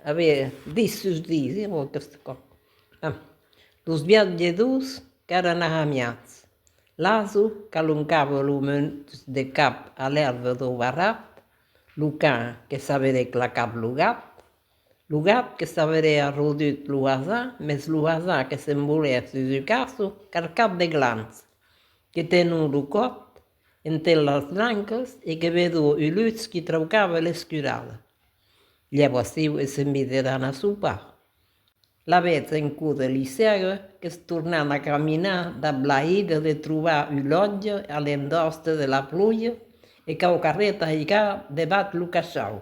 A veire, dis sus dis, eh, ò aqueste còp. Ah. Los viatjadors qu'èran arramiats. L'asau qu'aloncava lo munt de cap a l'èrva dau barrat, lo can que s'avèle clacat lo gat, Lo gat que s'averé arrodut lo hasà, mes lo hasà que se'n volé sus un casso carcat de glans, que tenó lo còth enter las lancas e que vedó un lutz qui traucava l'escurada. Llavors siu e se mise d'anar sopar. La vètz en cò de l'isèga qu'es tornant a caminar dab la higa de trobar un lotge a l'endoste de la pluja e qu'au carret aiga debat lo cachau.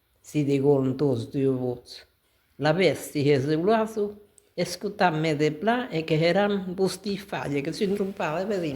Si diguon tos deu vos l'avèsti reseulhat, escotam-me de plan e que heram vosti falha, que son trompada, vedem.